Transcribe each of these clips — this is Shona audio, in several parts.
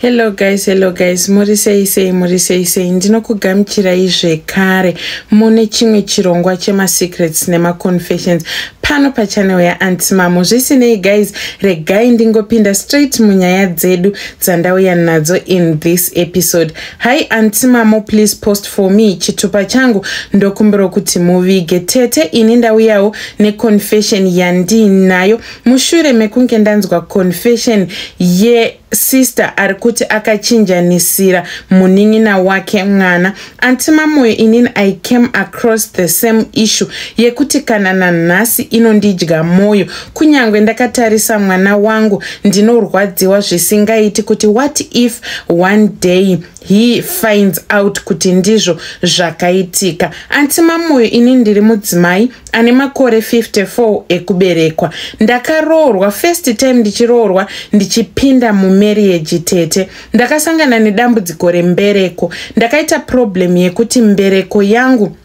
hello guys hello guys muri sei sei muri sei sei ndinokugamuchirai zvekare mune chimwe chirongwa chemasecrets nemaconfessions pano pachanel yaanti mamo zvisinei guys regai ndingopinda straight munyaya dzedu dzandauya nadzo in this episode hi anti mamo please post for me chitupa changu ndokumbirwa kuti muvige tete ini ndauyawo neconfession yandiinayo mushure mekunge ndanzwa confession yesister ari kuti akachinjanisira munin'ina wake mwana anti mamoyo inini i came across the same issue yekuti kana nanhasi inondidya mwoyo kunyange ndakatarisa mwana wangu ndinorwadziwa zvisingaiti kuti what if one day he finds out kuti ndizvo zvakaitika anti mamoyo ini ndiri mudzimai ane makore 54 ekuberekwa ndakaroorwa first time ndichiroorwa ndichipinda mumeriage tete ndakasangana nedambudziko rembereko ndakaita problem yekuti mbereko yangu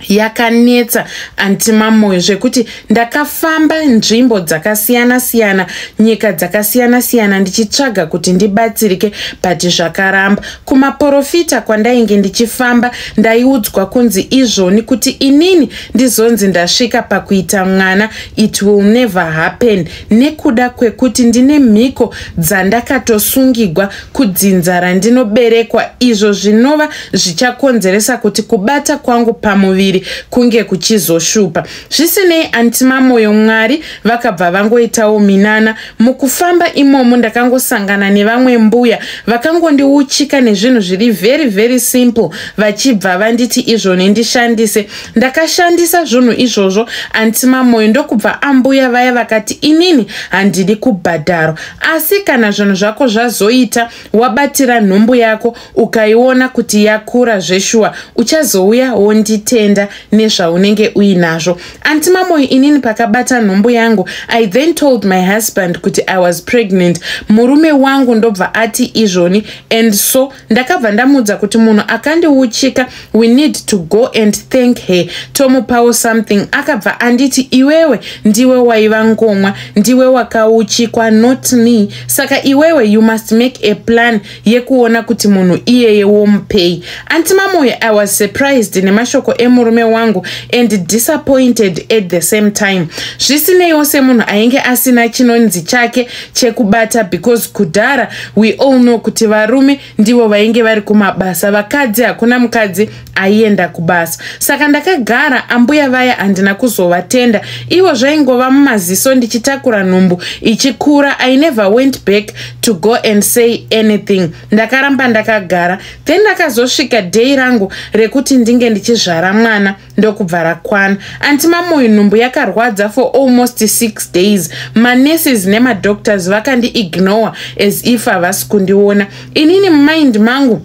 yakanetsa antimamoyo zvekuti ndakafamba nzvimbo dzakasiyana siyana nyika dzakasiyana siyana ndichitsvaga kuti ndibatsirike but zvakaramba kumaporofita kwandainge ndichifamba ndaiudzwa kunzi izvoni kuti inini ndizonzi ndasvika pakuita mwana it will never happen nekuda kwekuti ndine mhiko dzandakatosungigwa kudzinza randinoberekwa izvo zvinova zvichakonzeresa kuti kubata kwangu pamuviri kunge kuchizoshupa zvisinei antimamoyo mwari vakabva vangoitawo minana mukufamba imomo ndakangosangana nevamwe mbuya vakangondiuchika nezvinhu zviri very very simple vachibva vanditi izvo nendishandise ndakashandisa zvunhu izvozvo anti mamoyo ndokubva ambuya vaya vakati inini handidi kubhadharo asi kana zvinhu zvako zvazoita wabatira nhumbu yako ukaiona kuti yakura zveshuwa uchazouya wonditenda nezvaunenge uinazvo anti mamoyo inini pakabata nhumbu yangu i then told my husband kuti i was pregnant murume wangu ndobva ati izvoni and so ndakabva ndamuudza kuti munhu akandiuchika we need to go and thank her tomupawo something akabva anditi iwewe ndiwe waiva ngomwa ndiwe wakauchikwa not me saka iwewe you must make a plan yekuona kuti munhu iyeye womupei anti mamoyo i was surprised nemashoko emurume wangu and disappointed at the same time zvisineiwo semunhu ainge asina chinonzi chake chekubata because kudhara we all know kuti varume ndivo vainge vari kumabasa vakadzi hakuna mukadzi aienda kubasa saka ndakagara ambuya vaya handina kuzovatenda ivo zvaingova mumaziso ndichitakura nhumbu ichikura i never went back to go and say anything ndakaramba ndakagara then ndakazosvika day rangu rekuti ndinge ndichizvara mwana ndokubva rakwana anti mamoyo nhumbu yakarwadza for almost six days manurses nemadoctors vakandiignore as if havasi kundiona inini mumind mangu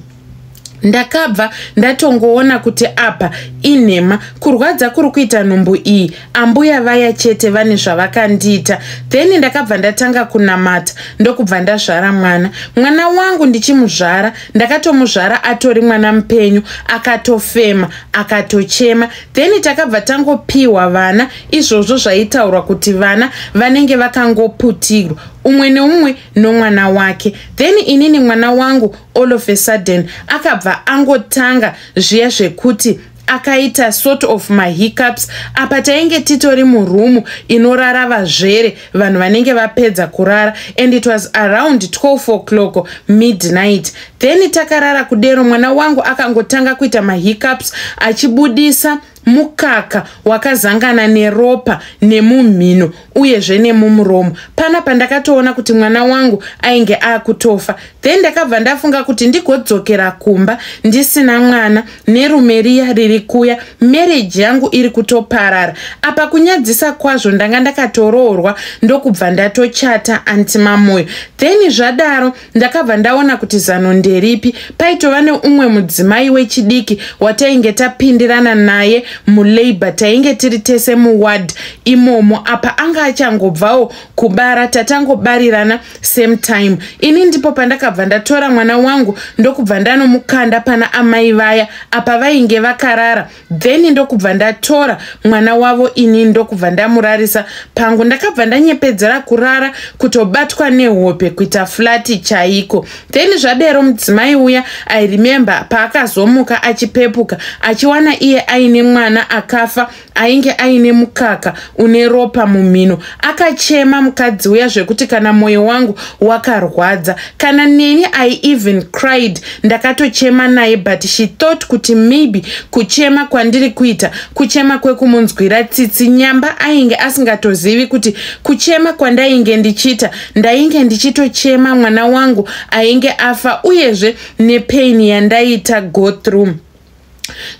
ndakabva ndatongoona kuti apa inhema kurwadza kuri kuita nhumbu iyi ambuya vaya chete vane zvavakandiita then ndakabva ndatanga kunamata ndokubva ndazvara mwana mwana wangu ndichimuzvara ndakatomuzvara atori mwana mupenyu akatofema akatochema then takabva tangopiwa vana izvozvo zvaitaurwa kuti vana vanenge vakangoputirwa umwe neumwe nomwana wake then inini mwana wangu all of a sudden akabva angotanga zviya zvekuti akaita sort of mahiccups apa tainge titori murumu inorara vazvere vanhu vanenge vapedza kurara and it was around 12 o'clock midnight then takarara kudero mwana wangu akangotanga kuita mahiccups achibudisa mukaka wakazangana neropa nemumhino uyezve nemumuromo pana pandakatoona kuti mwana wangu ainge akutofa then ndakabva ndafunga kuti ndigodzokera kumba ndisina mwana nerume riya riri kuya mereji yangu iri kutoparara apa kunyadzisa kwazvo ndanga ndakatoroorwa ndokubva ndatochata anti mamoyo then zvadaro ndakabva ndaona kuti zano nderipi paitova neumwe mudzimai wechidiki watainge tapindirana naye mulabor tainge tiri tese muward imomo apa anga achangobvawo kubara tatangobarirana same time ini ndipo pandakabva ndatora mwana wangu ndokubva ndanomukanda pana amai vaya apa vainge vakarara then ndokubva ndatora mwana wavo ini ndokubva ndamurarisa pangu ndakabva ndanyepedzera kurara kutobatwa nehope kuita flati chaiko then zvadero mudzimai uya i remember paakazomuka achipepuka achiwana iye aine mwana akafa ainge aine mukaka une ropa mumhino akachema mukadzi uya zvekuti kana mwoyo wangu wakarwadza kana neni i even cried ndakatochema naye but she thought kuti maybe kuchema kwandiri kuita kuchema kwekumunzwira tsitsi nyamba ainge asingatozivi kuti kuchema kwandainge ndichiita ndainge ndichitochema mwana wangu ainge afa uyezve nepain yandaiita go through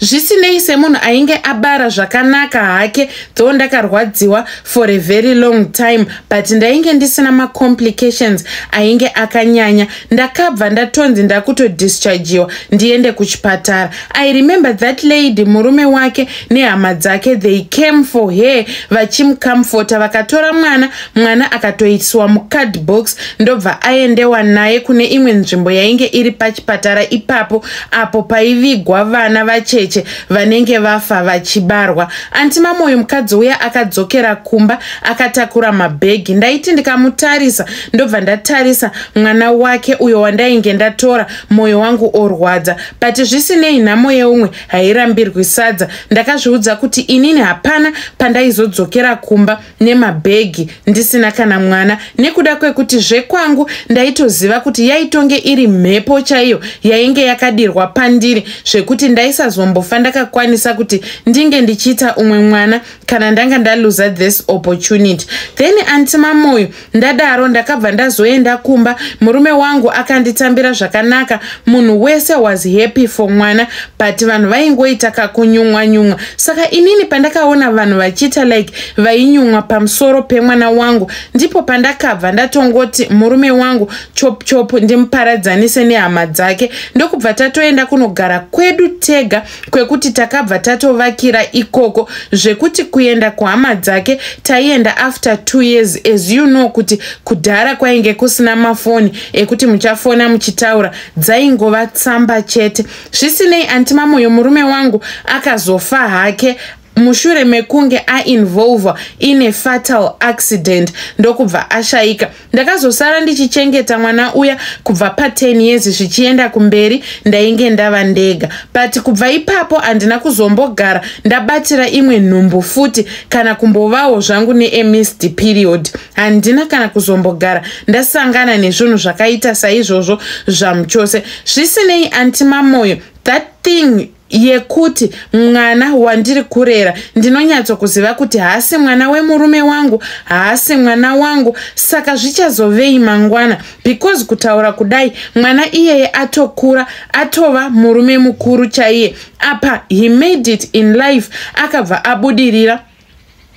zvisinei semunhu ainge abara zvakanaka hake though ndakarwadziwa for a very long time but ndainge ndisina macomplications ainge akanyanya ndakabva ndatonzi ndakutodischargiwa ndiende kuchipatara i remember that lady murume wake nehama dzake they came for her vachimcomforta vakatora mwana mwana akatoiswa mucard box ndobva aendewa naye kune imwe nzvimbo yainge iri pachipatara ipapo apo paivigwa vana vacheche vanenge vafa vachibarwa anti mamoyo mukadzi uya akadzokera kumba akatakura mabhegi ndaiti ndikamutarisa ndobva ndatarisa mwana wake uyo wandainge ndatora mwoyo wangu orwadza but zvisinei nhamo yeumwe hairambirwi sadza ndakazviudza kuti inini hapana pandaizodzokera kumba nemabhegi ndisina kana mwana nekuda kwekuti zvekwangu ndaitoziva kuti yaitonge iri mhepo chaiyo yainge yakadirwa pandiri zvekuti ndaisazombofa ndakakwanisa kuti ndinge ndichiita umwe mwana kana ndanga ndaluza this opportunity then anti mamoyo ndadaro ndakabva ndazoenda kumba murume wangu akanditambira zvakanaka munhu wese was happy for mwana but vanhu vaingoita kakunyumwa nyumwa saka inini pandakaona vanhu vachiita like vainyumwa pamusoro pemwana wangu ndipo pandakabva ndatongoti murume wangu chop chop ndimuparadzanise nehama dzake ndokubva tatoenda kunogara kwedu tega kwekuti takabva tatovakira ikoko zvekuti kuenda kuhama dzake taienda after two years as you know kuti kudhara kwainge kusina mafoni ekuti muchafona muchitaura dzaingova tsamba chete zvisinei antimamoyo murume wangu akazofa hake mushure mekunge ainvolve in a fatal accident ndokubva ashayika ndakazosara ndichichengeta mwana uya kubva pa10 years zvichienda kumberi ndainge ndava ndega but kubva ipapo handina kuzombogara ndabatira imwe nhumbu futi kana kumbovawo zvangu neemist period handina kana kuzombogara ndasangana nezvinhu zvakaita saizvozvo zvamuchose zvisinei antimamoyo that thing yekuti mwana wandiri kurera ndinonyatso kuziva kuti haasi mwana wemurume wangu haasi mwana wangu saka zvichazovei mangwana because kutaura kudai mwana iyeye atokura atova murume mukuru chaiye apa he made it in life akabva abudirira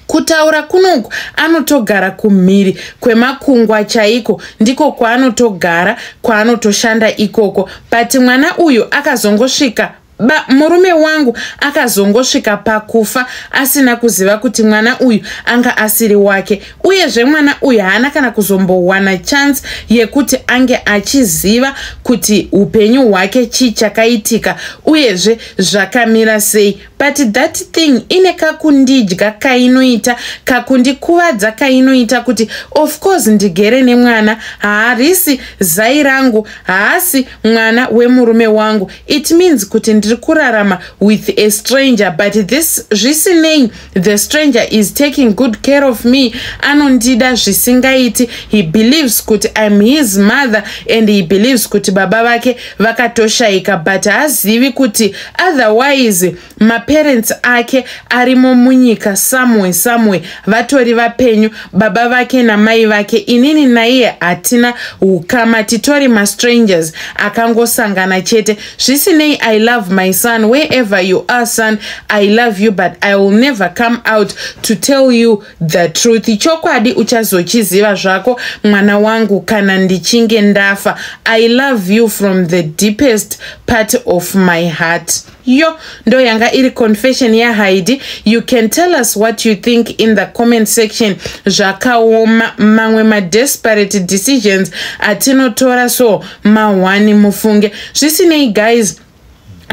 kutaura kunoku anotogara kumhiri kwemakungwa chaiko ndiko kwaanotogara kwaanotoshanda ikoko but mwana uyu akazongosvika ba murume wangu akazongosvika pakufa asina kuziva kuti mwana uyu anga asiri wake uyezve mwana uyu haana kana kuzombowana chance yekuti ange achiziva kuti upenyu hwake chii chakaitika uyezve zvakamira sei but that thing ine kakundidya kainoita kakundikuvadza kainoita kuti of course ndigere nemwana haarisi zai rangu haasi mwana wemurume wangu it means kuti ndiri kurarama with a stranger but this zvisinei the stranger is taking good care of me anondida zvisingaiti he believes kuti im his mother and he believes kuti baba vake vakatoshaika but haazivi kuti otherwise maparents ake arimo munyika samwe samwe vatori vapenyu baba vake namai vake inini naiye hatina ukama titori mastrangers akangosangana chete zvisinei i love my son wherever you are son i love you but i will never come out to tell you The truth chokwadi uchazochiziva zvako mwana wangu kana ndichinge ndafa I love you from the deepest part of my heart yo ndo yanga iri confession yahaidi you can tell us what you think in the comment section zvakaoma mamwe madesperate decisions atinotora so mahwani mufunge zvisinei guys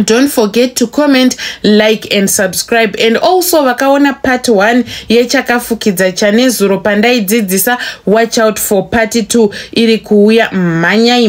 don't forget to comment like and subscribe and also vakaona part 1 yechakafukidza chanezuro pandaidzidzisa watch out for part 2 iri kuuya mhanyai